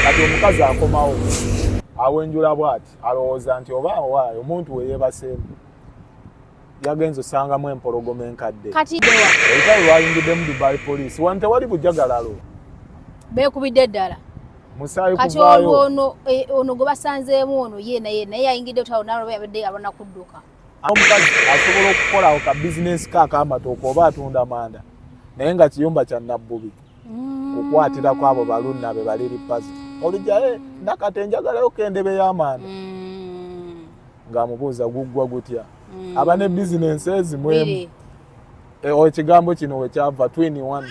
kati omukazi akomawo awenjula bwati alowooza nti oba awaayo omuntu weyebaseemu yagenze osangamu empologoma enkadde olutalo lwayingiddemu dubai poliisi wano tewali bujagalalo bekubidde ddala musaayi kuvaayo ono e, gwebasanzeemu ono ye naye naye yayingidde otalo nalwaba yabadde abona kudduka omukazi asobola okukolawo ka bizinesi ke akamatooka oba atunda manda naye nga kiyumba kya nabbubi mm. kukwatirako abo balunna be bali lipazi olujaye eh, nakati enjagalayo kendebe y'amanda mm. ng'amubuuza guggwa gutya mm. aba ne bizinesi ezimwemu eh, ekigambo kino wekyava twini one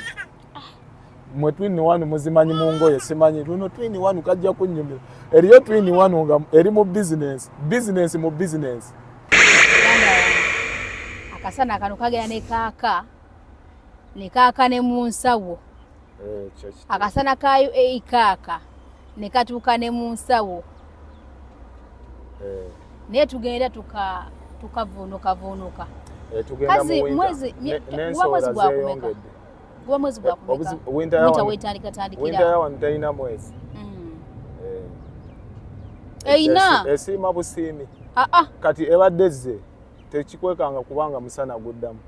mwe twini wanu muzimanyi mu ngoye simanyi luno twini wanu kajja kunyumira eriyo twini wanu nga eri mu bizinensi bizinensi mu bizinensi akasana kano kagera ne kaaka ne kaaka ne mu nsawo eh, akasana ka uae kaaka ne katuuka ne mu nsawo eh. naye tugenda tukavuunukavuunuka eh, kazi mwezi gwakumeka Guba mwezi gwa kumeka. Obuzi winter yawa. Winter wetandika tandikira. Winter yawa ntaina mwezi. Mm. Eh. Eina. Eh, Esima eh, busimi. Ah ah. Kati ebadde zze tekikwekanga kubanga musana guddamu.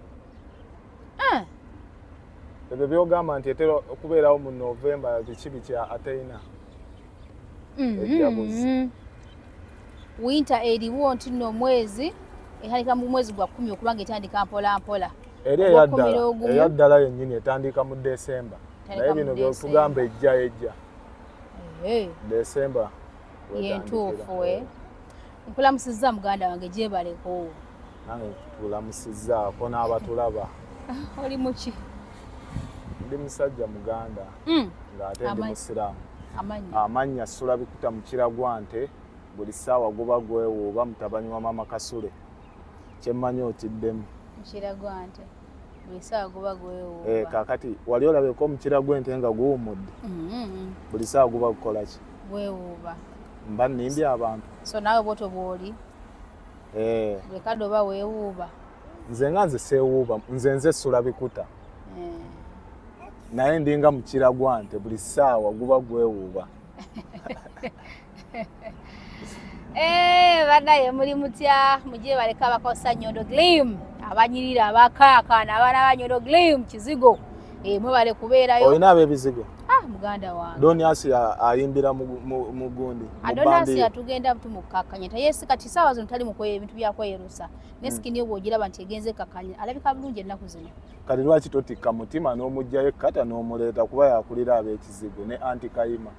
Eh. Ebyo byogamba nti etera okubeerawo mu November ekibi kya Ateina. Mm. Ejabuzi. Mm. Winter eriwo nti no mwezi ehalika mu mwezi gwa kumi okubanga etandika mpola mpola. eri eyaddala eyaddala yennyini etandiika mu desemba naye bino byotugamba ejja ejja eh. desemba yentuufu we eh. nkulamusizza muganda wange gyebaleko nange tulamusizzaako n'abatulaba oli muki ndi musajja muganda hmm. ng'ate ndi musiraamu amannya sula bikuta mukiragwa nte buli ssaawa guba gwewuuba mutabani wa mama kasule kyemmanyi otiddemu mukira gwa nte buli saawa guba gwewuuba eh, kakati wali olabeko omukira gw'ente nga guwumudde mm-hmm. buli saawa guba gukola ki gwewuuba mba nnimbye abantu so naawe bwotyo bw'oli eh. buli kadde oba weewuuba nze nga nze seewuuba nze nze essula bikuta eh. naye ndinga mukira gwa nte buli saawa guba gwewuuba Eh, banaye muli mutya mugye baleka abakozesa nyondo glim abanyirira abakaakaana abaana ba nyondo glim kizigo eh, mwebale kubeerayo olina abebizigo ah, muganda wange donias ayimbira mu gundi ah, donias atugenda tumukakkanya tayesi kati saawa zino tali mukweye ebintu byakweyerusa ne hmm. sikini obwo ogiraba nti egenze kakkanya alabika bulungi ennaku zino kati lwaki totikka mutima n'omugjayo kata n'omuleeta kuba yakulira ab'ekizigo ne anti kayima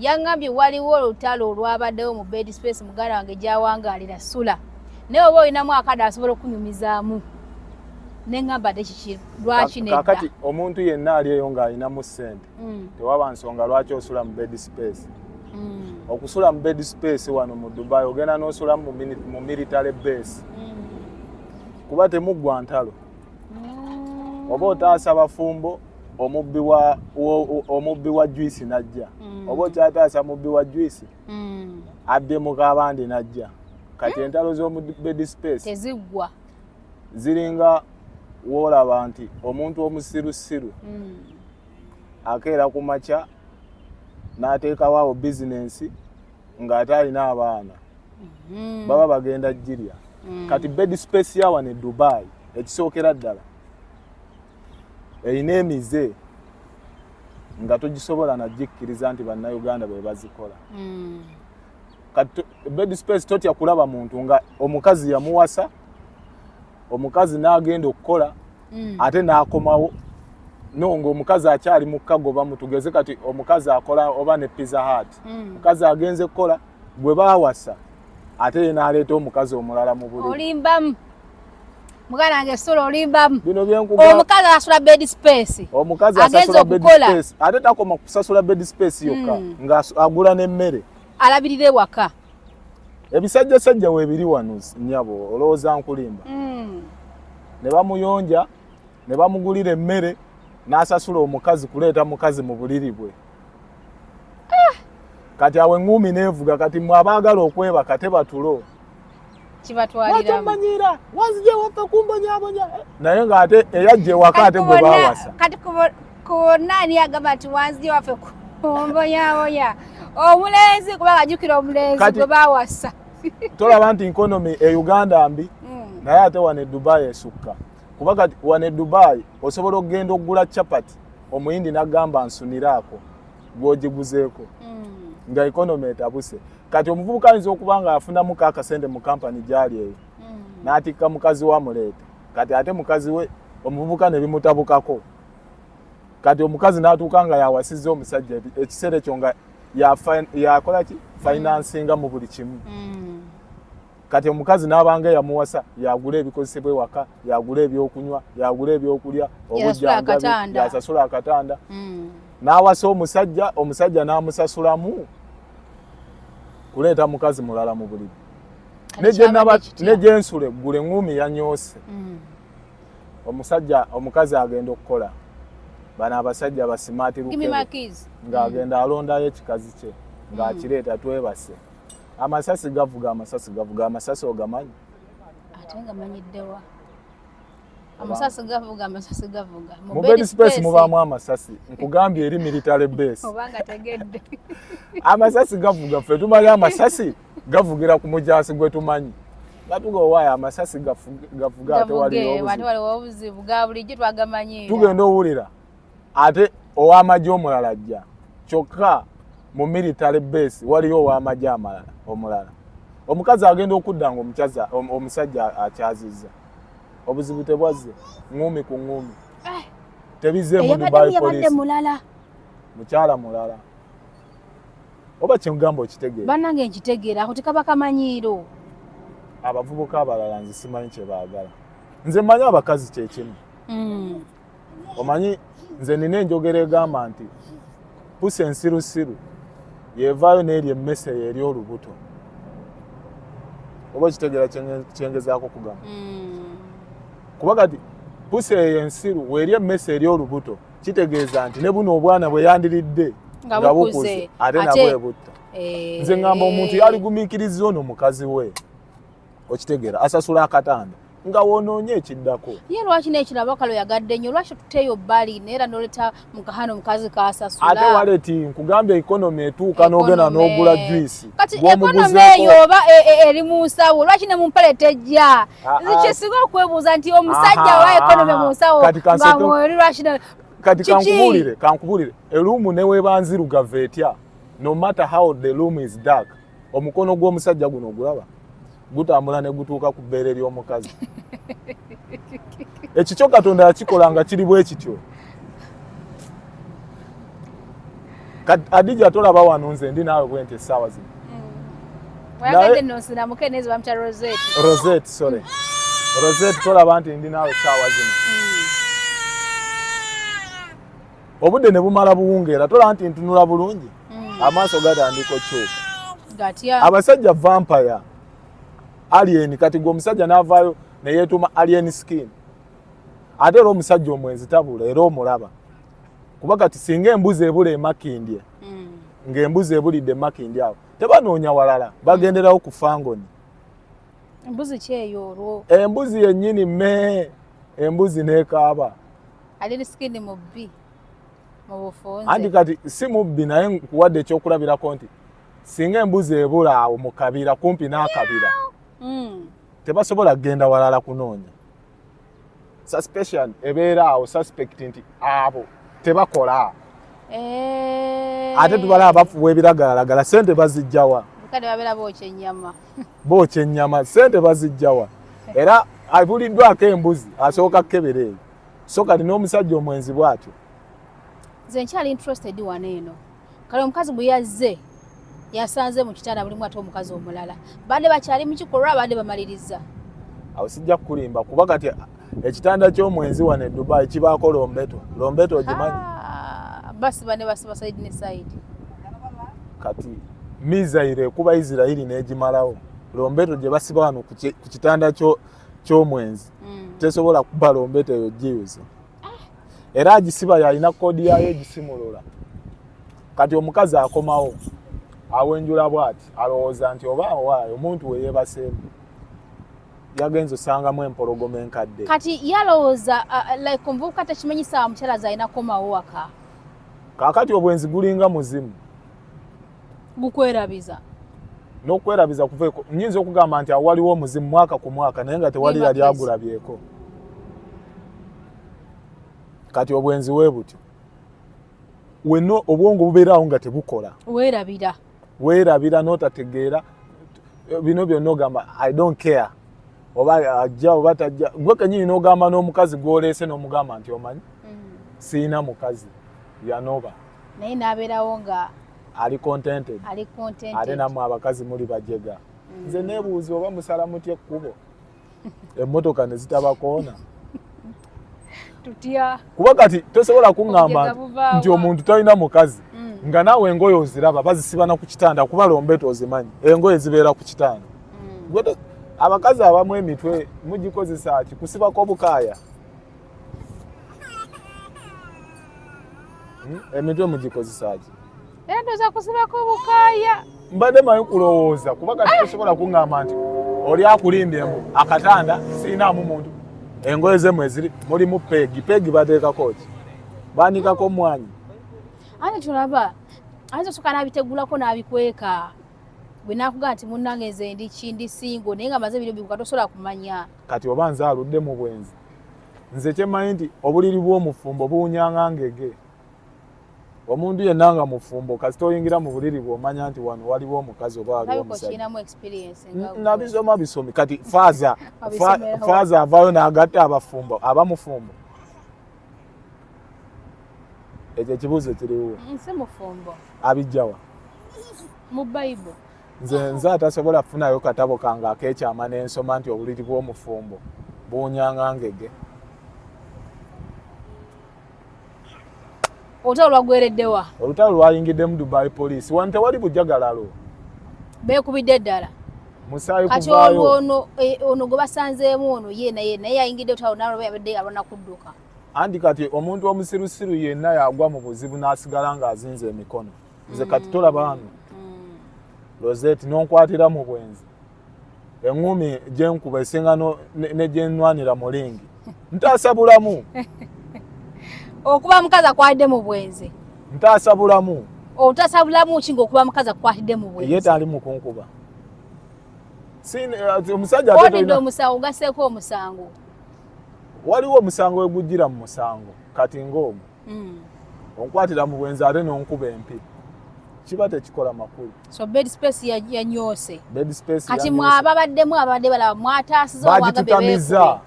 yangambye waliwo olutalo olwabaddewo mu bed space muganda wange gyawangaalira sula naye oba olinamu akada asobola okunyumizaamu nengamba te kiki lwaki nekati omuntu yenna ali eyo ng'alinamu ssente mm. tewaba nsonga lwaki osula mu bed space mm. okusula mu bed space wano mu dubai ogenda n'osula mu military base mm. kuba temuggwa ntalo mm. oba otaasa bafumbo omubbi wa omubbi wa juice najja mm. oba okyataasa mubbi wa juice mm. adde mu kabande najja kati mm. entalo z'omu bed space teziggwa ziringa woolaba nti omuntu omusirusiru mm. akeera ku makya n'ateekawo awo bizinensi ng'ate alina abaana mm-hmm. baba bagenda jirya mm. kati bed space yawa ne dubai ekisookera ddala erina emize nga togisobola nagikkiriza nti bannayuganda be bazikola mm. kati bed space totya kulaba muntu nga omukazi yamuwasa omukazi n'agenda okukola mm. ate n'akomawo no ng'omukazi akyali mu kagoba mutugeze kati omukazi akola oba ne pizza hat mm. omukazi agenze kukola gwe baawasa ate ye n'aleeta omukazi omulala mu buli olimbamu muganda wange sula olimbamu omukazi asasula bed space omukazi asasula bed space ate takoma kusasula bed space yokka mm. ng'agula n'emmere alabirira ewaka ebisajja sajja webiri wano nyabo olowooza nkulimba mm. ne bamuyonja ne bamugulira emmere n'asasula omukazi kuleeta mukazi mu buliri bwe ah. kati awo eŋŋuumi neevuga kati mwe abaagala okwebaka tebatulo kibatwaliramumanyiira wanzija waffe kumbonyabonya eh? naye ng'ate eyajja ewaka ate gwe bawasa kati kubonna ani agamba nti wanzija waffe kumbonyabonya omulenzi kubanga ajukira omulenzi gwe bawasa tolaba nti nkonomi e uganda mbi mm. naye ate wano e dubayi esukka kuba kati wano e dubayi osobola okugenda okugula capati omuyindi nagamba nsuniraako gwogiguzeeko mm. nga ekonomi etabuse kati omuvubuka ayinza okuba nga afunamu ka akasente mu kampani gyali eyo mm. n'atikka mukazi we amuleeta kati ate mukazi we omuvubuka ne bimutabukako kati omukazi n'atuuka nga yawasizza omusajja ekiseera ekyo nga yakola ki finansinga mu buli kimu mm. kati omukazi n'abanga yamuwasa yagula ebikozesebwa ewaka yagula ebyokunywa yagula ebyokulya obujjangabi yasasula akatanda mm. n'awasa omusajja omusajja n'amusasulamu kuleeta mukazi mulala mu buliri ne gye nsula eggulu eŋŋuumi yanyoose mm. omusajja omukazi agenda okukola bano abasajja basimaatiruke ng'agenda mm. alondayo ekikazi kye ng'akireeta mm. twebase amasasi gavuga amasasi gavuga amasasi ogamanyi ate nga manyiddewa amasasi gavuga amasasi gavuga mu bed space mubaamu amasasi nkugambye eri military base obanga tegedde amasasi gavuga ffe tumanyi amasasi gavugira ku mujaasi gwe tumanyi batuga owaayo amasasi gavuga ate waliwo obuzibu ga bulijjo twagamanyi tugenda owulira ate ow'amagye omulala ajja kyokka mu military base waliyo ow'amagye amalala omulala omukazi agenda okudda nga omukazi omusajja akyazizza obuzibu tebwazze ngumi ku ngumi eh. tebizemu dubai police mulala mukyala mulala oba kyengamba okitegeera banange nkitegeera ako tekaba kamanyiiro abavubuka abalala nze simanyi kyebaagala nze manyi abakazi kyekimu mm. omanyi nze nina enjogera egamba nti pusi ensirusiru yevaayo n'eryo emmese yeeri olubuto oba okitegeera kyengezaako okugamba hmm. kuba kati pusi eyo ensiru weeri emmese eri olubuto kitegeeza nti ne buno obwana bwe yandiridde nga bukuze ate nabwebutta eh. nze ngamba omuntu yaligumiikiriza ono mukazi we okitegera asasula akatanda nga wonoonye ekiddako ye lwaki nekiraba kalo yagadde nnyo lwaki tuteeyo bbali neera noleta mukahana omukazi kasasula ate waleti nkugambye ekonomi etuuka nogenda nogula juisi kati ekonomi eyo oba e, e, eri mu nsawo lwaki ne mumpale tejja ah, ah. nzikisinga okwebuuza nti omusajja wa ekonomi mu nsawo nga mweri lwaki kati kankubulire kankubulire eruumu newebanzirugavu etya no matter how the room is dark omukono gw'omusajja guno ogulaba gutambula ne gutuuka ku bbeere ly'omukazi ekikyo katonda yakikola nga kiri bwe kityo adija tolaba wano nze ndi naawe bwenti essaawa zino rosette tolaba nti ndi naawe essaawa zino mm. obudde ne bumala buwungeera tolaba nti ntunula bulungi mm. amaaso gatandika okyuka abasajja vampire alien kati gwe omusajja n'avaayo neyeetuuma alien skin ate era omusajja omwenzi tabula era omulaba kuba kati singa embuzi ebula emakindye mm. ng'embuzi ebulidde emakindye awo tebanoonya walala bagenderawo ku fangoni embuzi kyeyo olwo embuzi yennyini me embuzi nekaaba ali misikini mubbi mu bufunze anti kati si mubbi naye nkuwadde ekyokulabirako nti singa embuzi ebula awo mu kabira kumpi n'akabira hmm. tebasobola kugenda walala kunoonya suspicion ebeera awo suspect nti abo tebakola eh. ate tubala abafuwa ebiragalalagala sente bazijjawa bookya ennyama sente bazijjawa era abuliddwako embuzi asooka kukebera eyo so kati n'omusajja omwenzi bwatyo nze nkyali interested wano eno kale omukazi bwe yazze yasanze mu kitanda bulimu ate omukazi omulala bande bakyali mu kikolwa abande bamaliriza awo sijja kukulimba kuba kati ekitanda ky'omwenzi wano e dubai kibaako lombeto lombeto ogimanyi ah, basi bane basiba saidi ne saidi kati misaire ekuba isirairi n'egimalawo lombeto gye basiba wano ku kitanda ky'omwenzi ky'omwenzi mm. tesobola kubala ombeta eyo jiyuza era agisiba yalina kodi yayo egisimulula kati omukazi akomawo awenjula bwati alowooza nti oba awaayo omuntu weyebaseemu yagenza osangamu empologoma enkadde kati yalowooza like omuvubuka tekimanyi saawa mukyala zalina komawo waka kakati obwenzi gulinga muzimu gukwerabiza n'okwerabiza kuva nyinza okugamba nti awo waliwo omuzimu mwaka ku mwaka naye nga tewali yali agulabyeko kati obwenzi we butyo wena obwongo bubeeraawo nga tebukola weerabira weerabira n'otategeera bino byonna ogamba i don't care oba ajja oba tajja gwe kenyini n'ogamba n'omukazi gwoleese n'omugamba nti omanyi mm. siina mukazi yanoba naye n'abeerawo nga ali contented ali contented ate namwe abakazi muli bajega mm. nze nebuuza oba musala mutya ekkubo emmotoka ne zitabakoona tutya kuba kati tosobola kuŋŋamba nti omuntu talina mukazi mm. nga naawe engoye oziraba bazisiba na ku kitanda kuba lombeto ozimanyi engoye zibeera ku kitanda mm. abakazi abamu emitwe mugikozesa ki kusibako obukaaya Hmm? Emitwe mugikozesaki? Era ndoza kusibako bukaya. Mbadde manyi kulowooza kuba kati ah! tosobola kungamba nti oli akulimbye mbu akatanda sirinaamu muntu engoye zemu eziri mulimu peegi peegi bateekako ki banikako mwanyi ani tulaba ayinza osoka nabitegulako nabikweka bwe nakugaa nti munange nze ndi kindi singo naye nga maze biro bibuka tosobola kumanya kati oba nze aludde mu bwenzi nze kyemanyi nti obuliri bw'omufumbo buwunyanga ngege omuntu yenna nga mufumbo kasita oyingira mu buliri bwomanya nti wano waliwo omukazi oba waliwo omusajjanabisoma bisomi kati faaza faaza avayo nagatta abafumbo aba mufumbo ekyo ekibuuzo kiriwo abijjawa mu bible nze nze atasobola kufunayo katabo kange akekyama nensoma nti obuliri bw'omufumbo buwunyanga ngege olutalo lwagwereddewa olutalo lwayingiddemu dubai poliisi wano tewali bujagalalo beekubidde eddala musaayi kati olwono eh, ono gwe basanzeemu ono ye naye naye yayingidde olutalo nalwo yabadde alwana kudduka anti kati omuntu omusirusiru yenna yagwa mu buzibu n'asigala ng'azinza emikono nze kati mm. tolaba wano mm. rosette nonkwatira mu bwenzi eŋumi gyenkuba esinga negyenwanira mu lingi ntaasa bulamu okuba mukazi akwatidde mu bwenzi ntaasa bulamu otaasa bulamu ki ngaokuba mukazi akwatidde mu bwenzi ye taali mukunkuba eh, omusajja onidde omusango ogaseeko omusango waliwo omusango wegujjira mu musango kati ngaomu mm. onkwatira mu bwenzi ate n'onkuba empi kiba tekikola makulu so bed space yanyoose bed space kati mwababaddemu ababadde balaba mwataasiza bagitutamiza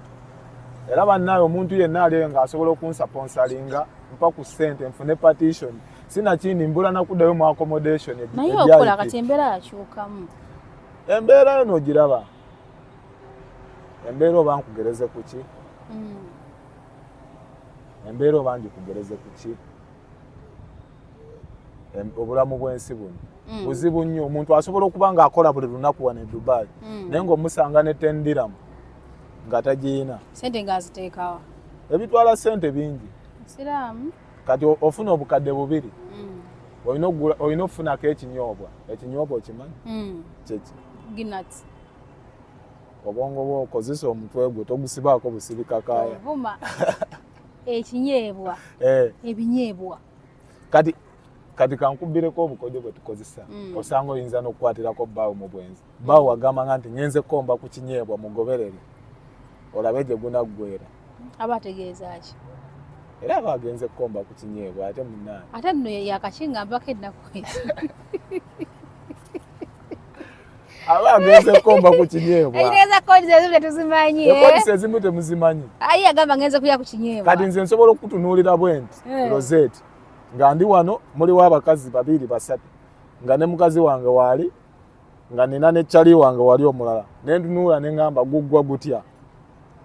era bannaawe omuntu yenna aliyo ng'asobola okunsaponsalinga mpa ku ssente nfune partition sinakindi mbula nakuddayo mu accommodation naye okola kati embeera yakyukamu embeera yo nogiraba embeera oba nkugereze kuki mm. embeera oba ngikugereze ku ki obulamu bw'ensi buno mm. buzibu nnyo omuntu asobola okuba ng'akola buli lunaku wano e dubai mm. naye ng'omusanga ne tendiramu nga tagiyina sente ng'aziteekawa ebitwala sente bingi siraamu kati ofuna obukadde bubiri mm. olina okufunako ekinyoobwa ekinyoobwa okimanyi kyeki obwongo bwo okozesa omutwe gwo togusibaako busibikakaya vuma ekinyeebwa eh. ebinyeebwa kati kati kankubireko obukodyo bwe tukozesa mm. osanga oyinza n'okukwatirako bbaawo mu bwenzi bbaawo mm. wagamba nga nti ngenze komba ku kinyeebwa mugoberere olabe gye gunaggwera aba ategeeza ki era aba agenze kukomba ku kinyeebwa ate munaani ate nno yakakingambako ennaku aba agenze kukomba ku kinyeebwa agenze kodi zezimu tetuzimanyi eh? kodi zezimu temuzimanyi ayi agamba ngenze kulya ku kinyeebwa kati nze nsobola okukutunuulira bwenti eh. rosette nga ndi wano muliwo abakazi babiri basatu nga ne mukazi wange waali nga nina ne cali wange wali omulala nentunuula ne ngamba guggwa gutya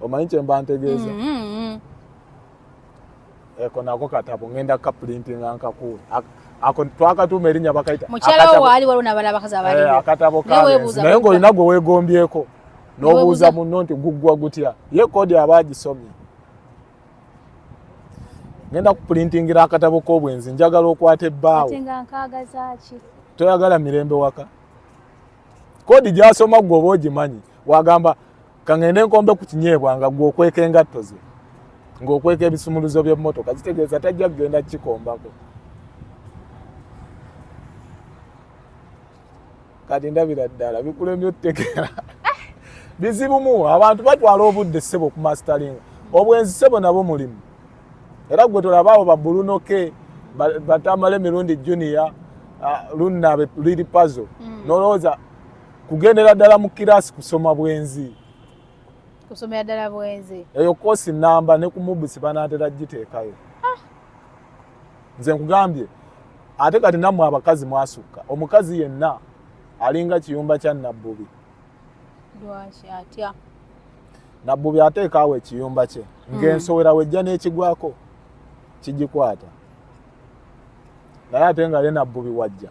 omanyi kyemba ntegeeza mm-hmm. eko nako katabo ngenda kapulintinga nkakuwe ako twakatuuma erinnya bakayita mukyalawo waali waliwo nabala abakazi abaliwo eh, akatabo kalenzi naye ng'olina gwe weegombyeko n'obuuza munno nti guggwa gutya ye koodi aba agisomye ngenda kupulintingira akatabo k'obwenzi njagala okwata ebbaawo toyagala mirembe waka koodi gyasoma gwe oba ogimanyi wagamba kangende nkombe ku kinyeebwa nga gwe okweka engatto ze ng'okweka ebisumuluzo by'emmotoka kitegeeza tajja kugenda kukikombako kati ndabira ddala bikulemye otutegeera eh! bizibumu abantu batwala obudde ssebo ku mastalinga obwenzi ssebo nabo mulimu era gwe tolaba abo babulunoke batamala emirundi junior ah, lunna liri pazo mm. nolowooza kugendera ddala mu kiraasi kusoma bwenzi kusomera ddala bwenzi eyo koosi namba ne ku mubusi banaatera giteekayo ah. nze nkugambye ate kati nammwe abakazi mwasukka omukazi yenna alinga kiyumba kya nabbubi lwaki atya nabbubi ateekaawo ekiyumba kye hmm. ng'ensowera wejja n'ekigwako kigikwata naye ate nga ye nabbubi wajja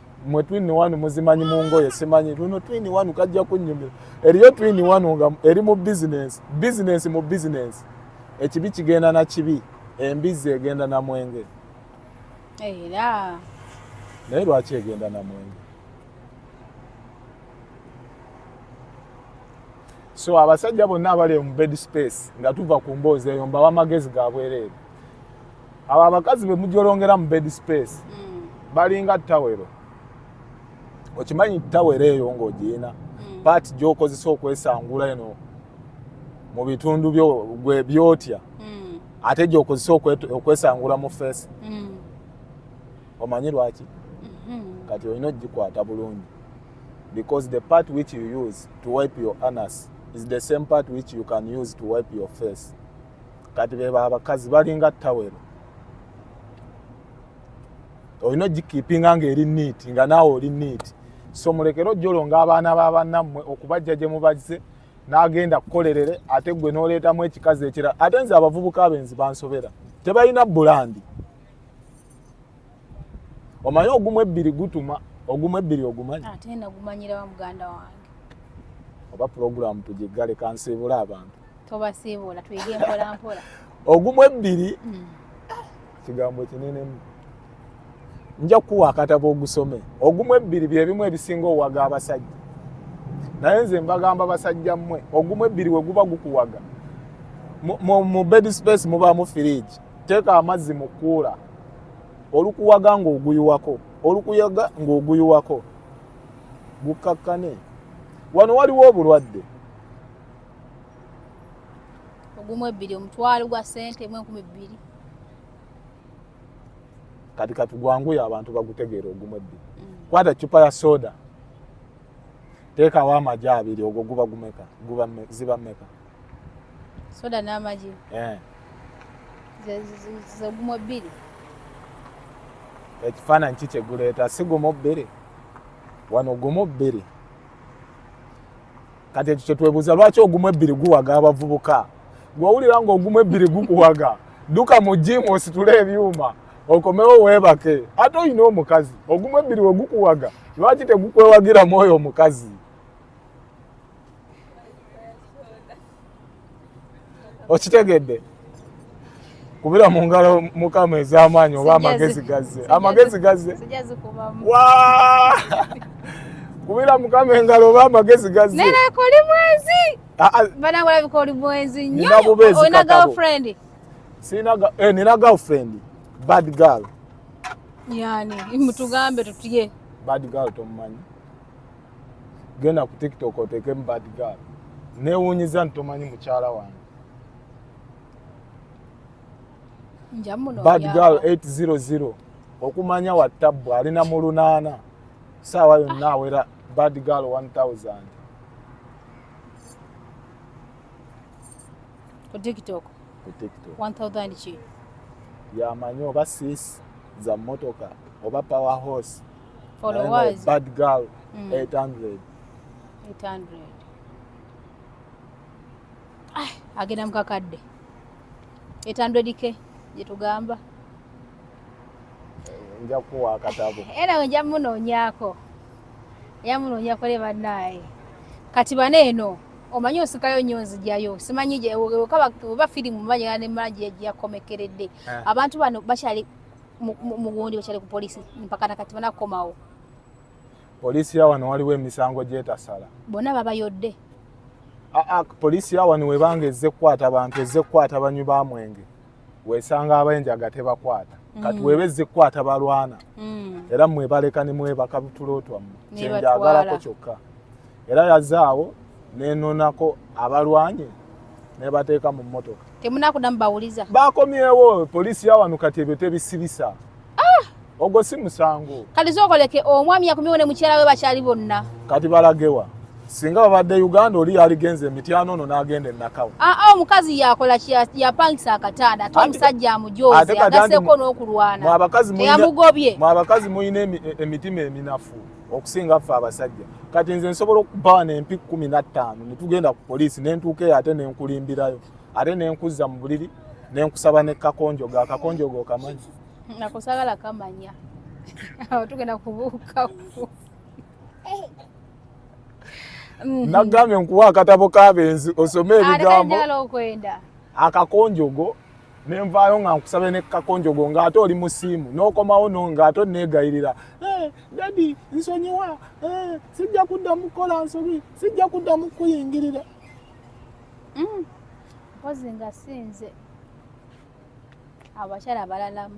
mwe twini wanu muzimanyi mu ngoye simanyi luno twini wanu kajja kunyumira eriyo twini wanu nga eri mu bizinensi bizinensi mu bizinensi ekibi kigenda na kibi embizzi egenda na mwenge era naye lwaki egenda na mwenge so abasajja bonna abali mu bed space nga tuva ku mboozi eyo mbawa amagezi ga bwereere abo abakazi be mujolongera mu bed space mm. balinga tawero okimanyi tawero eyo ng'ogiyina mm. paati gy'okozesa okwesangula eno mu bitundu byotya mm. ate gy'okozesa okwesangula mu feesi mm. omanyi lwaki mm-hmm. kati olina ogikwata bulungi because the part which you use to wipe your anus is the same part which you can use to wipe your face kati bebo abakazi balinga tawero olina ogikipinga nga eri niiti nga naawe oli niiti so mulekere ojolonga abaana babanammwe okubajja gye mubazze n'agenda kukolerere ate gwe n'oleetamu ekikazi ekirala ate nze abavubuka abenzi bansobera tebalina bulandi omanyi ogumu ebbiri gutuma ogumu ebbiri ogumanyi ate nagumanyira wa muganda wange oba pulogulaamu tugiggale kansiibula abantu tobasiibula tuyige mpola mpola ogumu ebbiri hmm. kigambo kinenemu nja kukuwa akatabo ogusome ogumu ebbiri byebimu ebisinga owaga abasajja naye nze mbagamba basajja mmwe ogumu ebbiri we guba gukuwaga mu bed space mubaamu firiji teeka amazzi mu kuula olukuwaga ng'oguyiwako olukuyaga ng'oguyiwako gukkakkane wano waliwo obulwadde ogumu ebbiri omutwalo gwa sente mu enkumi bbiri kati kati gwanguye abantu bagutegeera ogumu ebbiri mm. kwata cupa ya soda teekawo amagi abiri ogwo guba gumeka ziba meka soda n'amagi eh. zegumu ebbiri ekifaananyi ki kyeguleeta si gumu bbiri wano gumu bbiri kati ekyo kyetwebuuza lwaki ogumu ebbiri guwaga abavubuka gwowulira nga ogumu ebbiri gukuwaga duka mu jimu ositule ebyuma okomewo weebake ate olina omukazi ogumu ebbiri wegukuwaga lwaki tegukwewagiramu oyo omukazi okitegedde kubira mu ngalo mukama ez'amaanyi oba amagezi gazze amagezi gazze kubira mukama engalo oba amagezi gazze nerakoli mwenzi ah, ah. banagulabika oli mwenzi nyoolina girlfriend eh, nina girlfriend bad girl yani mutugambe tutye bad girl tomumanyi genda ku tiktok oteekemu bad gal newunyiza nti tomanyi mukyala wange bad gal 800 okumanya wattabbu alina mu lunaana saawa yonna awera bad gal 1000 ku tiktok ku tiktok 1000 ki yamanyi oba sis za motoka oba power horse followers bad girl mm. 800 800 ah agenda mukakadde 800 ke jetugamba eh, nja kuwa akatabo era nja munoonyako nja munoonyako le bannaye kati bana eno omanyi osikayo nyo nzijayo simanyi baba firimu manya ne magi yakomekeredde eh. abantu bano bakyali mugundi wekyali ku polisi mpaka nakati bana kukomawo polisi ya wano waliwo emisango gyetasala bonna babayodde aa polisi ya wano webanga ezze kukwata bantu ezze kukwata banywi ba mwenge wesanga abenjaga tebakwata kati mm. weba ezze kukwata balwana mm. era mwebaleka ne mwebaka tulo twammwe kyenjagalako kyokka era yazaawo nenonako abalwanye nebateeka mu mmotoka temunakudamu bawuliza bakomyewo poliisi yawano kati ebyo tebisibisa ah! ogwo si musango kati zokoleke omwami yakomyewo ne mukyala we bakyali bonna kati balagewa singa babadde uganda oli yaligenza emityano ono n'agenda enakawo aa ah, ah, omukazi yakola yapangisa akatanda ate omusajja amujoozi agaseko n'okulwana mwabakazi mulina emitima eminafu okusinga ffe abasajja kati nze nsobola okubawa nempi kumi nattaano netugenda ku poliisi nentuuka eyo ate nenkulimbirayo ate nenkuzza mu buliri nenkusaba ne kakonjogo akakonjogo okamanyi nakusagala kamanya awo tugenda kubuukaku mm. nagambye nkuwa akatabo kabenzi osome ebigambo akakonjogo ne nvaayo nga nkusabe ne kakonjogo ng'ate oli mu siimu n'okomawo no ng'ate onneegayirira eh, dadi nsonyiwa eh, sijja kuddamu kukola nsobi sijja kuddamu kukuyingirira mm. mpozi nga sinze abakyala balalamu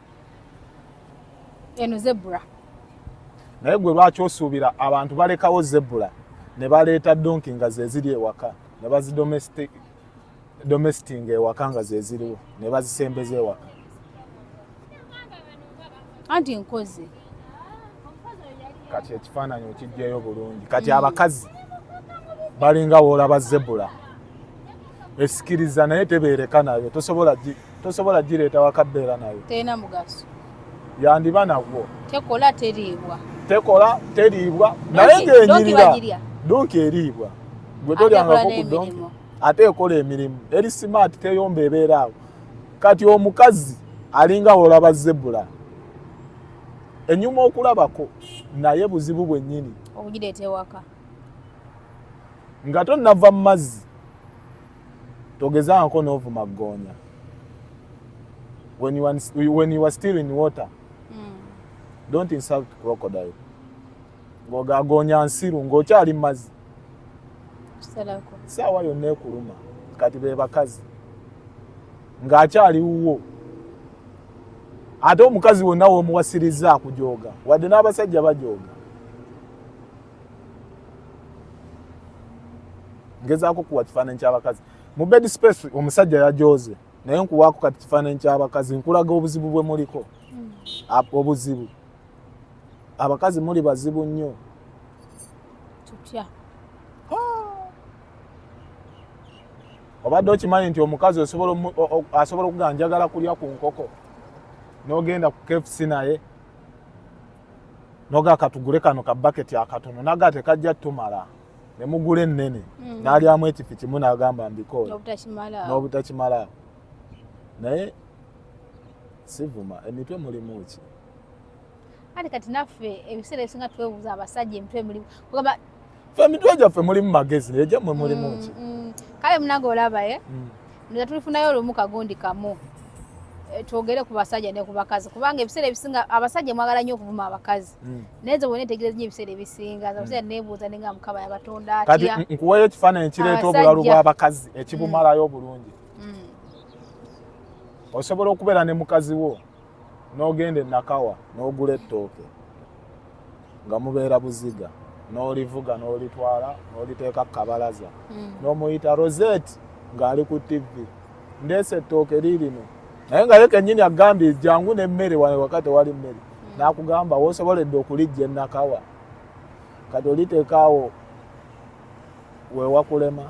eno zebula naye gwe lwaki osuubira abantu balekawo zebula ne baleeta donki nga zeziri ewaka ne bazidomesitinga ewaka nga zeziriwo ne bazisembeza ewaka anti nkozi kati ekifaananyi okijjayo bulungi kati mm. abakazi balinga woolaba zebula esikiriza naye tebeereka nayo tosobola gireeta wakabeera nayo terina mugaso yandiba nagwo tekola teriibwa tekola teriibwa naye ngenyirira donki eriibwa gwe tolyangako ku donki ate ekola emirimu eri simaati teyomba ebeera awo kati omukazi alinga woolaba zebula enyuma okulabako naye buzibu bwenyini okugireeta ewaka nga tonava mu mazzi togezaako n'ovuma ggoonya when you, are, when you are still in water mm. don't insult crocodile ng'ogagoonya nsiru ng'okyali mu mazzi saawa yonna ekuluma kati be bakazi ng'akyali wuwo ate omukazi wonna womuwasirizza akujooga wadde n'abasajja bajooga ngezaako kuwa kifaananyi ky'abakazi mu bed space omusajja yajooze naye nkuwaako kati kifaananyi ky'abakazi nkulaga obuzibu bwe muliko hmm. obuzibu abakazi muli bazibu nnyo tutya obadde okimanyi nti omukazi osobola asobola okugaa njagala kulya ku nkoko nogenda ku kfc naye noga katugule kano ka baketi akatono naga tekajja tumala nemugula ennene mm. nalyamu ekifi kimu nagamba mbikoola nobutakimala naye sivuma emitwe mulimu ki kati naffe ebiseera ebisinga twebuuza abasajja emitwe mulimu kugamba fe emitwe gyaffe mulimu magezi naye gyammwe mulimu mm, ki mm. kale munange olaba e mm. nza tulifunayo olumu kagundi kamu eh, twogere ku basajja ne ku bakazi kubanga ebiseera ebisinga abasajja mwagala nnyo okuvuma abakazi naye nze bona etegereza nyo ebiseera ebisinga abasajja nebuuza nenga mukaba yabatonda kati nkuwayo ekifaananyi kireeta obulalu bw'abakazi ekibumalayo obulungi osobola okubeera ne mukazi wo n'ogenda e Nakawa n'ogula ettooke nga mubeera buziga n'olivuga n'olitwala n'oliteeka ku kabalaza hmm. n'omuyita Rosette ng'ali ku ttivvi ndeese ettooke liirino naye nga ye kennyini agambye jangu n'emmere wane waka tewali mmere hmm. n'akugamba wosoboledde okulijja ennakawa kati oliteekaawo wewakulema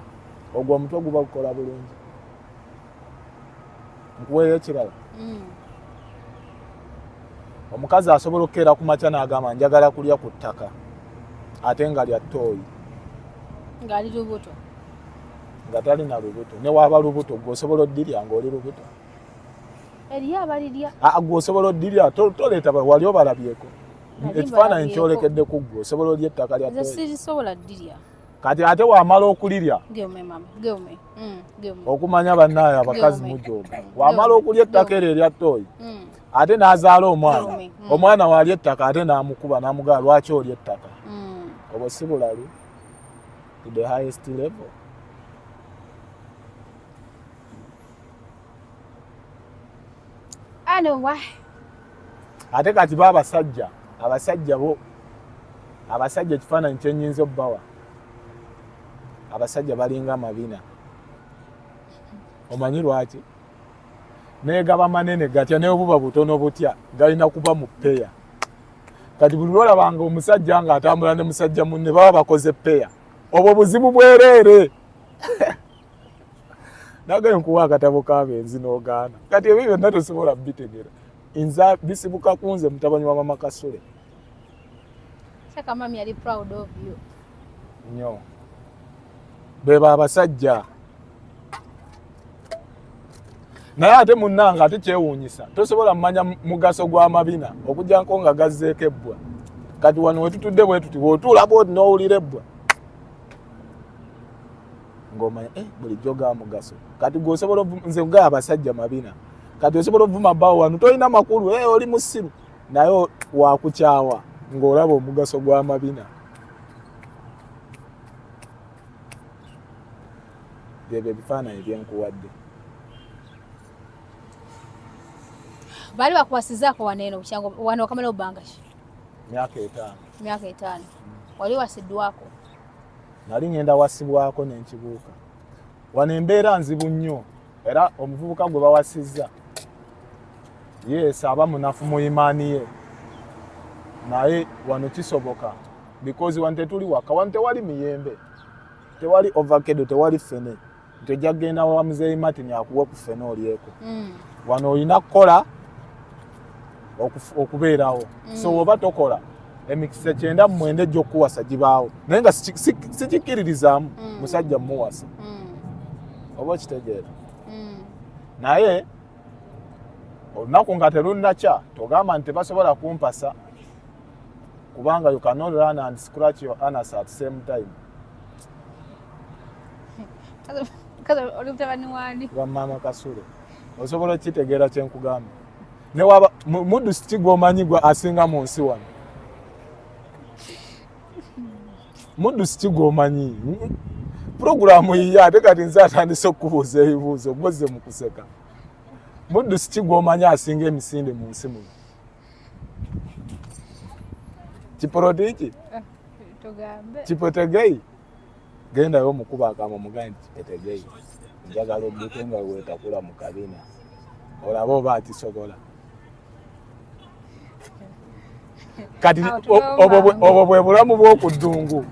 ogwo omutwe guba gukola bulungi nkuweeyo ekirala mm. omukazi asobola okukeera ku makya n'agamba njagala kulya ku ttaka ate nga lya ttooyi ngaali lubuto nga talina lubuto newaaba lubuto gwe osobola oddirya ngaoli lubuto eriyo abalirya ah, gwe osobola oddirya toleeta wali obalabyeko ekifaananyi kyolekedde ku ggwe osobola olya ettaka lya ttooyi kati ate wamala okulirya mm, okumanya banaye abakazi mujoga mm, wamala okulya ettaka eryo erya toyi mm. ate nazaala omwana omwana wali ettaka ate namukuba namugaa lwaki oli ettaka obwo si bulalu to the highest level ate kati ba abasajja abasajja bo abasajja ekifaananyi kyenyinza obbawa abasajja balinga amabina omanyi lwaki naye gaba manene gatya naye obuba butono butya galina kuba mu peya kati buli lwolabanga omusajja nga atambula ne musajja munne baba bakoze peya obwo buzibu bwereere nagaye nkuwa akatabo kabenzi nogaana kati ebyo byonna tosobola bitegera nza bisibuka kunze mutabani wa mama kasule nyo beba abasajja naye ate munnanga ate kyewuunyisa tosobola mumanya mugaso gw'amabina okugyanko nga gazzeeko ebbwa kati wano wetutudde bwetuti wotuulaba oti n'owulira ebbwa ng'omanya eh, bulijjo ga mugaso kati gwe osobola nze ga abasajja mabina kati osobola ovuma bawo wano tolina makulu hey, eh, oli musiru naye wakukyawa ng'olaba omugaso gwa mabina byebyo ebifaananyi byenkuwadde baali bakwasizaako waneeno bukyango wano wakamala obangaki myaka etaano myaka etaano wali wasiddwako nali ngenda wasibwako nenkibuuka wano embeera nzibu nnyo era omuvubuka gwe bawasizza yeesa aba munafu mu imaani ye naye wano kisoboka because wano tetuli waka wano tewali miyembe tewali ovakedo tewali fene nti ojja kugenda wa muzeeyi martin akuwe ku ffena olyeko mm. wano olina kukola okubeerawo mm. so woba tokola emikisa kyenda mumwenda ejja okukuwasa gibaawo naye nga sikikkiririzaamu mm. musajja mumuwasa oba okitegeera naye olunaku nga terunnakya togamba nti tebasobola kumpasa kubanga you cannot run and scratch your anus at same time wamama kasule osobola okitegeera kyenkugamba newaba muddu siki gwomanyi gwe asinga mu nsi wano muddu siki gwomanyi puroguramu yiye ate kati nze atandise okukubuuza ebibuuzo gwozze mu kuseka muddu siki gwomanyi asinga emisinde mu nsi muno kipoloti ki eh, kipetegeyi gendayo omukuba akama omugambe nti kipetegeyi njagala obuke nga wetakula mu kabina olaba oba akisobola kati obwo bwe bulamu bw'oku ddungu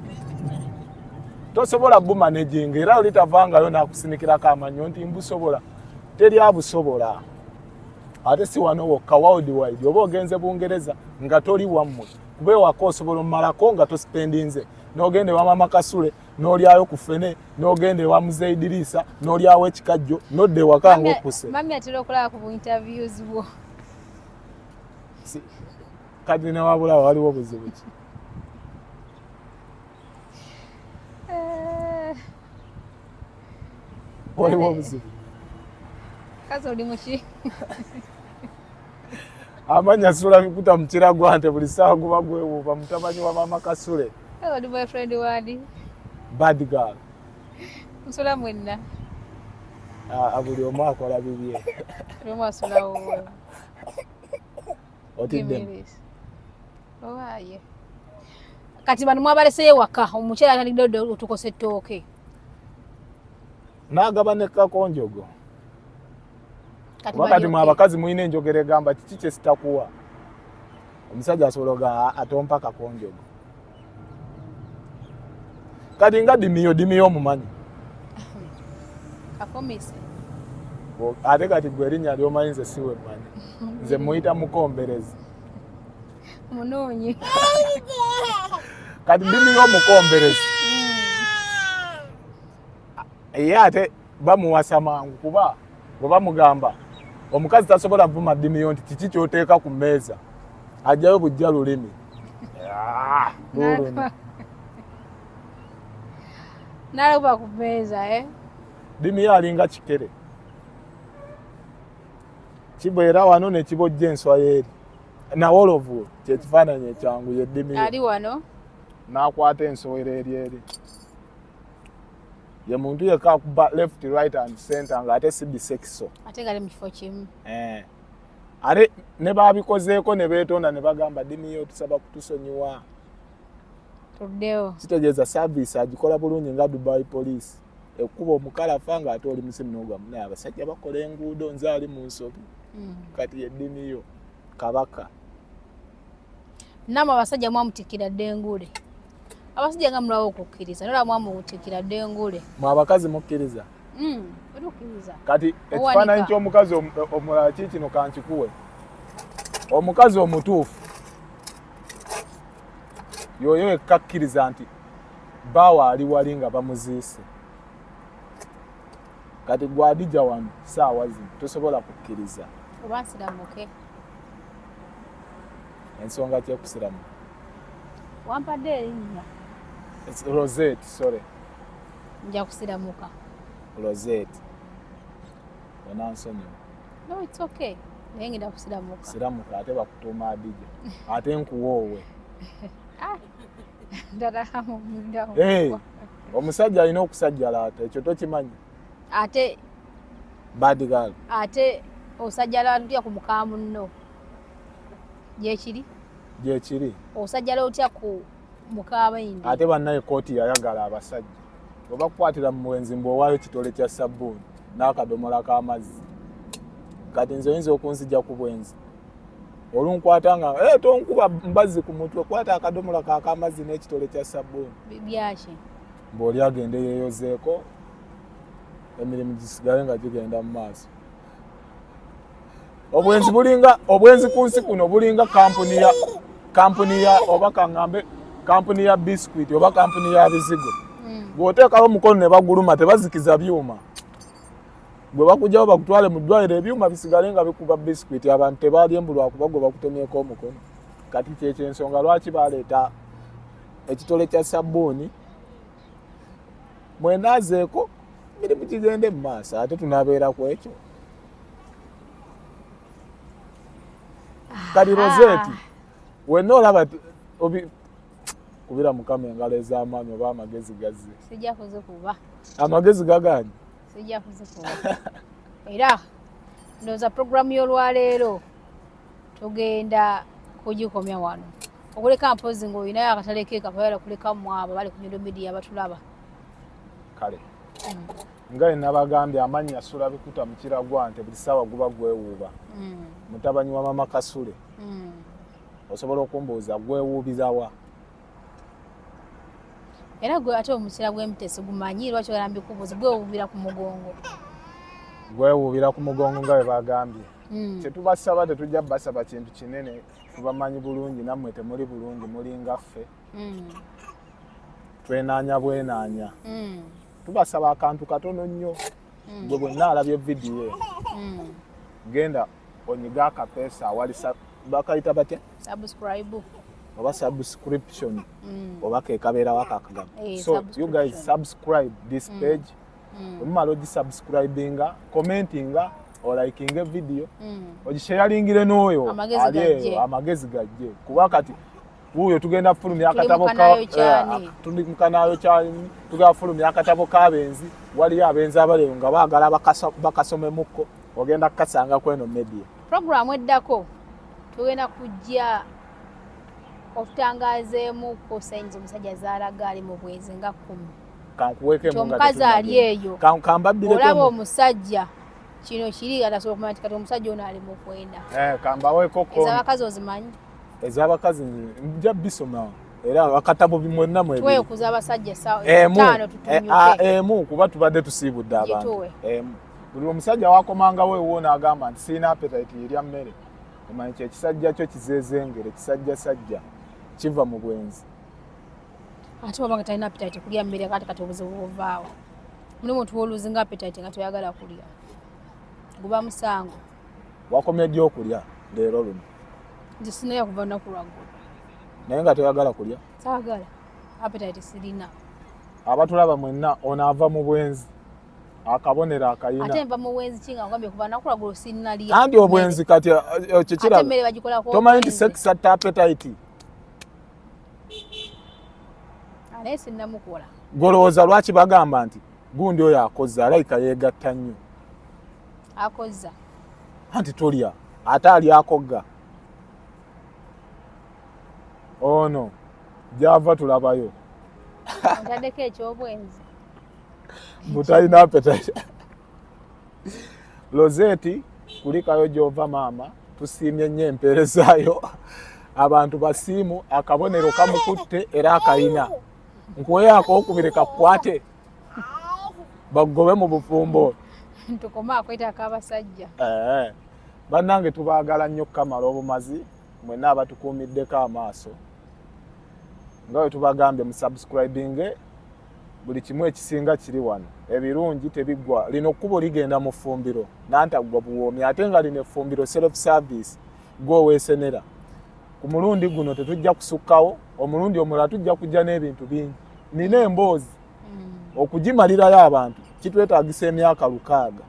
tosobola gumanejinga era olitavangayo nakusinikirako amanyo nti mbusobola teri abusobola ate si wano wokka world wide oba ogenze bungereza nga toli wammwe kuba ewaka osobola omumalako nga tosipendinze nogenda ewa mama kasule nolyayo ku fene nogenda ewa muzeyi diriisa nolyawo ekikajjo nodda ewaka nga okuse kati newabulawo waliwo buzibu ki waliwo obuzibu kazi oli muki amanya sula bikuta mukira gwante buli saawa guba gwewuuba mutabani wa mama kasule oli boyfriend wani bad girl nsula mwenna ah, buli omu akola bibye buli omu asulawo otidde owaye kati bano mwabalese ewaka omukyala atalidde otukosa ettooke n'agaba ne kakonjogo wakati mwe abakazi mulina enjogera egamba kiki kyesitakuwa omusajja asobola oga atompa kakonjogo kati nga dimiyo dimiyo omumanyi ate kati gwe erinnya lyomanyi nze siwe manyi nze muyita mukomberezi munoonye kati ndimiyo omukomberezi ye ate bamuwasa mangu kuba bwe bamugamba omukazi tasobola vuma ddimiyo nti kiki kyoteeka ku mmeeza ajjayo bujja lulimi ah, nalakuba ku mmeeza eh? ddimiyo alinga kikere kibeera wano nekibojja enswa yeeri nawolovu kyekifaananyi ekyangu yeddimiro ali wano nakwata ensowera eri eri ye muntu yekka akuba left right and center nga ate si bisekiso ate gali mukifo kimu eh. ate ne babikozeeko ne beetonda ne bagamba dimiyo tusaba kutusonyiwa tuddewo kitegeeza service agikola bulungi nga dubai police ekuba omukalafa nga ate oli musimu nogamu naye abasajja bakola enguudo nze ali mu nsobi mm. kati yeddini yo kabaka namwe abasajja mwamutikira dde enguule abasajja nga mulaba okukkiriza nola mwamutikira dde enguule mwe abakazi mukkiriza mm, kati ekifaananyi ky'omukazi omulala ki kino kankikuwe omukazi omutuufu yoyo ekkakkiriza nti bawa ali wali nga bamuziise kati gwadija wano saawa zino tosobola kukkiriza oba nsiramuke ensonga kyekusiramu wampadde erinnya roset sorry nja kusiramuka roset onansonyiwa no its okay naye ngenda kusiramuka siramuka ate bakutuuma adija ate nkuwoowe ah. Eh, omusajja alina okusajjalaata ekyo tokimanyi ate badgal ate osajjalaata otya ku muka munno gyekiri gyekiri osajjala otya ku mukabaindi ate bannaye kooti yayagala abasajja oba kukwatira mu muwenzi mbu owaayo kitole kya sabbuuni n'akadomola k'amazzi kati nze oyinza okunzija ku bwenzi olunkwata nga hey, eh, tonkuba mbazi ku mutwe kwata akadomola kakamazzi n'ekitole kya sabbuuni byaki mbaoli agende yeyozeeko emirimu gisigale nga gigenda mu maaso obwenzi bulinga obwenzi ku nsi kuno bulinga kampuni ya kampuni ya oba kaŋambe kampuni ya biscuit oba kampuni ya bizigo hmm. bw'oteekawo omukono ne baguluma tebazikiza byuma gwe bakujawo bakutwale mu ddwaliro ebyuma bisigale nga bikuba bisikwiti abantu tebaalye mbu lwakuba gwe bakutemyeko omukono kati kyekyensonga lwaki baleeta ekitole kya sabbuuni mwenazeeko mirimu kigende mu maaso ate tunabeera ku ekyo kati roseeti wenna olaba kubira mukama engalo ez'amaanyi oba amagezi gazze amagezi gaganye sijja kuzikuwa era ndowooza puroguramu y'olwaleero tugenda kugikomya wano okuleka mpozi ngaolinayo akatale keeka bayala kuleka mwabo bali kunyodo midiya batulaba kale mm. nga enabagambye amannya sula bikuta mukira gwa nte buli saawa guba gwewuuba mm. mutabanyi wa mama kasule mm. osobola okumbuuza gwewuubizawa era gwe ate omukira gw'embi tesigumanyi lwaki ogala mbikubuuzi gwewuubira ku mugongo gwewuubira ku mugongo nga bwe bagambye hmm. tetubasaba tetujja basaba kintu kinene tubamanyi bulungi nammwe temuli bulungi mulinga ffe hmm. twenaanya bwenaanya hmm. tubasaba akantu katono nnyo gwe bwenna alabye vidiyo genda onyiga akapesa awali bakayita batya subscribe oba subscription mm. oba kekabeerawo akakagamba hey, eh, so you guys subscribe this mm. page mm. omumala ogisubscribinga commentinga olikinga evidiyo mm. ogisheyaringire n'oyo ali eyo amagezi gajje kuba kati wuuyo tugenda fulumya akatabo tulimukanayo eh, kyani tugenda fulumya akatabo kabenzi waliyo abenzi abaleyo nga bagala bakasomemuko ogenda kukasanga kweno media programu eddako tugenda kujja otutangazeemu ku sayinzi omusajja zaalaga ali mu bwezi nga kumi omukazi ali eyo olaba omusajja kino kiri atasobola kumanya nti kati omusajja ono ali mukwenda eh, kambaweekoko ezabakazi ozimanyi ez'abakazi nja bisoma era akatabo mwenna mwebitwekuza abasajja emu eh, ah, emu kuba tubadde tusiibudde abantu emu buli omusajja wakomangawo ewo naagamba nti sirina apetaiti yerya mmere omanyi kyo ekisajja kyo kizezengere ekisajja sajja kiva mu bwenzi ate wabanga talina apetaiti kulya mmere kati kati obuzibu buvaawo mulimu tuwoluzinga apetaiti nga toyagala kulya guba musango wakomye ddi okulya leero luno nze sinaya kuva naku lwaggulu naye nga toyagala kulya saagala apetite sirina abatulaba mwenna ono ava mu bwenzi akabonero akayinaanti obwenzi kati eh, eh, kikiratomanyi nti sex atta apetite golowooza lwaki bagamba nti gundi oyo akoze alayika yeegatta nnyo akozza anti tolya ate ali akogga ono oh gyava tulabayo ntaddeko ekyobwenzi butalina apetite lozeti kulikayo gyova maama tusiimye nnyo empeerezaayo abantu basiimu akabonero kamukutte era akayina nkuweyo akokubiri kakukwate bagobe mu bufumbo tukome akwetako abasajja eh, bannange tubaagala nnyo kukamala obumazi mwena abatukuumiddeko amaaso nga we tubagambye mu subscribinge buli kimu ekisinga kiri wano ebirungi tebiggwa lino kkubo ligenda mu ffumbiro nantaggwa buwoomi ate nga lino effumbiro self service gwe oweesenera ku mulundi guno tetujja kusukkawo omulundi omulala tujja kujja n'ebintu bingi nina emboozi hmm. okugimalirayo abantu kitwetagisa emyaka lukaaga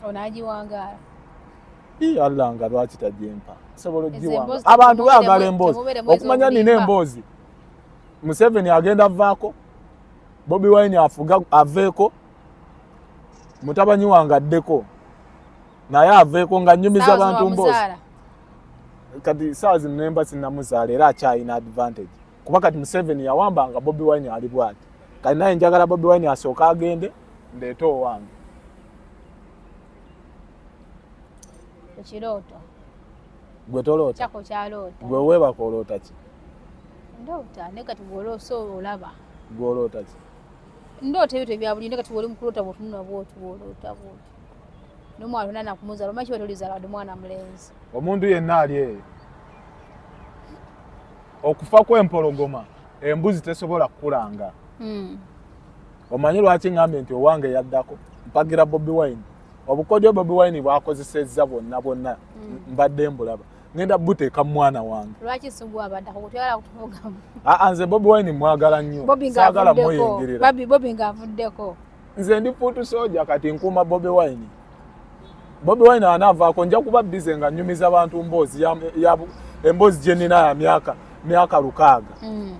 onagiwangaala i allah nga lwaki tajempa sobola ogiwanga abantu bagala emboozi okumanya nina emboozi museveni agenda avaako bobi wine afuga aveeko mutabani wange addeko naye aveeko nga nyumiza bantu mboozi kati saawa zino nemba sinamuzaala era akyalina advantage kuba kati museveni yawamba nga bobi wine ali bwati kati naye njagala bobi wine asooka agende ndeete owange ekirooto gwe toloota gwe weebaka oloota ki ndoota naye kati gwoloosa olaba gwoloota ki ndoota ebyo tebyabulinde kati woli mukuloota bwotunula bwotu bwoloota bwotu nomwana ona nakumuzala omaki wetulizala wadi mwana mulenzi omuntu yenna ali eyo okufa kwempologoma embuzi tesobola kukulanga hmm. omanyi lwaki ngambye nti owange yaddako mpagira bobi wine obukodyo bobi wine bwakozesezza bwonna bwonna hmm. mbadde mbulaba ngenda buteeka mwana wange nze bobi wine mwagala nnyo sagala muyingirira nze ndi fuutu soja kati nkuuma bobi wine bobi wine anaavaako nja kuba bize nga nyumiza bantu mboozi emboozi gye nnina ya myaka myaka lukaaga mm.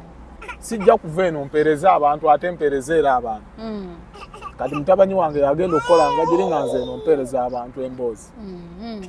sijja kuva eno mpereze abantu ate mpereze era abantu mm. kati mutabani wange yagenda okukola nga giri nga nze eno mpereza abantu emboozi mm-hmm.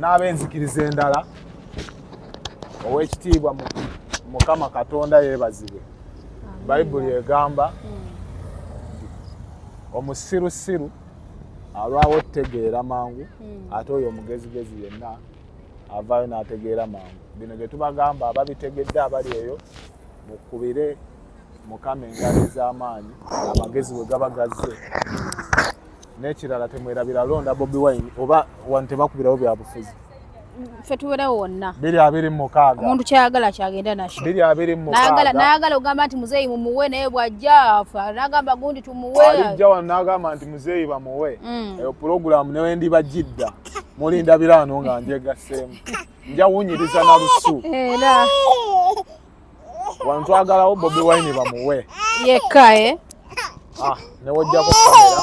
n'ab'enzikiriza endala ow'ekitiibwa mukama katonda yeebazibwe bayibuli egamba omusirusiru alwawo okutegeera mangu hmm. ate oyo omugezigezi yenna avaayo n'ategeera mangu bino bye tubagamba ababitegedde abali eyo mukubire mukama engabi z'amaanyi amagezi bwe gaba gazze n'ekirala temwerabira londa bobi wine oba wano tebakubirawo byabufuzi ffe tuberewo wonna biri abiri mumukaaga omuntu kyayagala kyagenda nakyo biri abiri mumukaaga nayagala ogamba nti muzeeyi mumuwe naye bwajja afa nagamba gundi tumuwe alijja wano nagamba nti muzeeyi bamuwe mm. eyo pulogulaamu newe ndiba jidda mulinda biraano nga njegaseemu nja wunyiriza na lusu era wantu agalawo bobi wine bamuwe yekka e ah, newojjako kamera